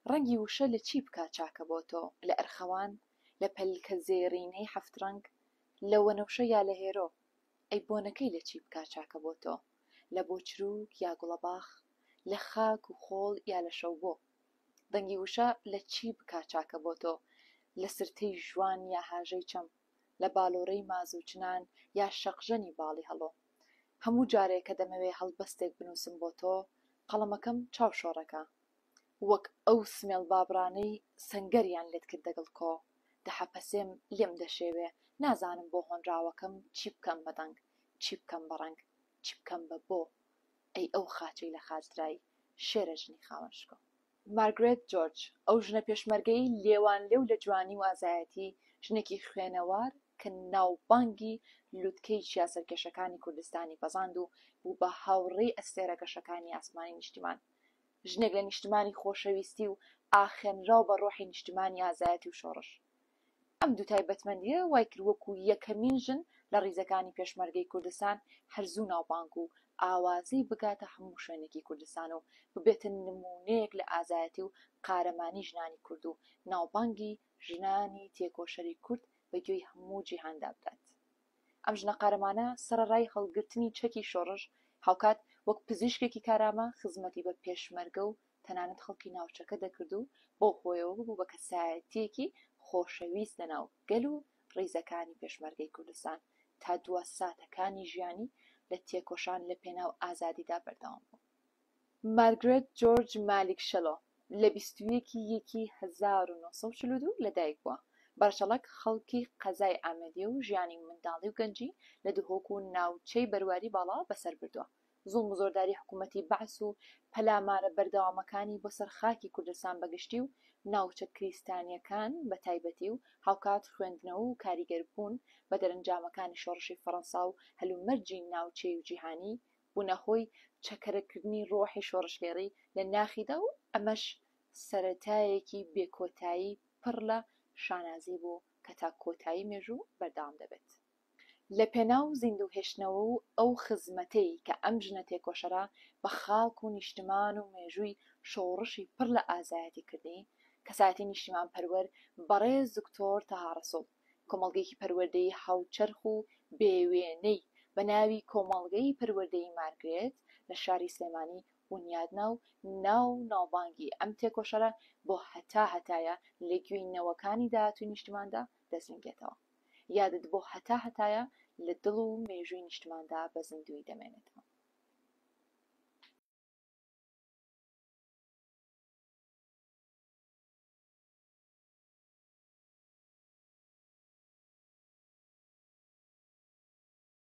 ڕەنگی وشە لە چی بکا چاکە بۆ تۆ؟ لە ئەرخەوان؟ لە پەلکە زێڕینەی هەفت ڕەنگ؟ لە وەنەوشە یا لە هێرۆ؟ ئەی بۆنەکەی لە چی بکا چاکە بۆ تۆ؟ لە بۆچرووک یا گوڵەباخ؟ لە خاک و خۆڵ یا لە شەوبۆ؟ دەنگی وشە لە چی بکا چاکە بۆ تۆ؟ لە سرتەی ژوان یا هاژەی چەم؟ لە بالۆرەی ماز و چنان یا شەقژەنی باڵی هەڵۆ. هەموو جارێ کە دەمەوێ هەڵبەستێک بنووسم بۆ تۆ، قەڵەمەکەم چاو شۆڕەکا. وەک ئەو سمێڵ بابڕانەی سەنگەریان لێت کرد دەگڵ کۆ. دەحەپەسێم لێم دەشێوێ، نازانم بۆ هۆنراوەکەم چی بکەم بە دەنگ، چی بکەم بە ڕەنگ، چی بکەم بە بۆ. ئەی ئەو خاچەی لە خاچ درای، شێرە ژنی خاوەن شکۆ. مارگرێت جۆرج، ئەو ژنە پێشمەرگەی لێوانلێو لە جوانی و ئازایەتی، ژنێکی خوێنەوار کە ناوبانگی لوتکەی چیا سەرکێشەکانی کوردستانی پەزاند و بوو بە هاوڕێی ئەستێرە گەشەکانی ئاسمانی نیشتیمان. ژنێک لە نیشتمانی خۆشەویستی و ئاخێنراو بە ڕۆحی نیشتمانی ئازایەتی و شۆڕش. ئەم دوو تایبەتمەندییە وای کرد وەکو یەکەمین ژن لە ڕیزەکانی پێشمەرگەی کوردستان هەر زوو ناوبانگ و ئاوازی بگاتە هەموو شوێنێکی کوردستان و ببێتە نموونەیەک لە ئازایەتی و قارەمانی ژنانی کورد و ناوبانگی ژنانی تێکۆشەری کورد بە گوێی هەموو جیهاندا بدات. ئەم ژنە قارەمانە سەڕەڕای هەڵگرتنی چەکی شۆڕش هاوکات وەک پزیشکێکی کارامە خزمەتی بە پێشمەرگە و تەنانەت خەڵکی ناوچەکە دەکرد و بەو هۆیەوە ببوو بە کەسایەتییەکی خۆشەویست لەناو گەل و ڕیزەکانی پێشمەرگەی کوردستان تا دوا ساتەکانی ژیانی لە تێکۆشان لە پێناو ئازادیدا بەردەوام بوو. مارگرێت جۆرج مالیک شەلۆ لە بیست و یەک ی یەکی هەزار و نۆ سەد و چل و دوو لەدایک بووە، بە ڕەچەڵەک خەڵکی قەزای ئامێدییە و ژیانی منداڵی و گەنجی لە دهۆک و ناوچەی بەرواری باڵا بەسەر بردووە، زوڵم و زۆرداری حکوومەتی بەعس و پەلامارە بەردەوامەکانی بۆ سەر خاکی کوردستان بە گشتی و ناوچە کریستانییەکان بە تایبەتی و هاوکات خوێندنەوە و کاریگەربوون بە دەرەنجامەکانی شۆڕشی فەڕەنسا و هەلومەرجی ناوچەیی و جیهانی، بوونە هۆی چەکەرەکردنی ڕۆحی شۆڕشگێڕی لە ناخیدا و ئەمەش سەرەتایەکی بێکۆتایی پڕ لە شانازی بوو کە تا کۆتایی مێژوو بەردەوام دەبێت. لەپێناو زیندوو هێشتنەوە و ئەو خزمەتەی کە ئەم ژنە تێکۆشەرە بە خاک و نیشتمان و مێژووی شۆڕشی پڕ لە ئازایەتی کردی، کەسایەتی نیشتیمانپەروەر بەڕێز دکتۆر تەها ڕەسوڵ، کۆمەڵگەیەکی پەروەردەیی هاوچەرخ و بێ وێنەی بە ناوی کۆمەڵگەی پەروەردەیی مارگرێت لە شاری سلێمانی بونیاد نا و ناو و ناوبانگی ئەم تێکۆشەرە بۆ هەتا هەتایە لە گوێی نەوەکانی داهاتووی نیشتماندا دەزنگێتەوە. یادت بۆ هەتا هەتایە لە دڵ و مێژووی نیشتماندا بە زیندوویی دەمێنێتەوە.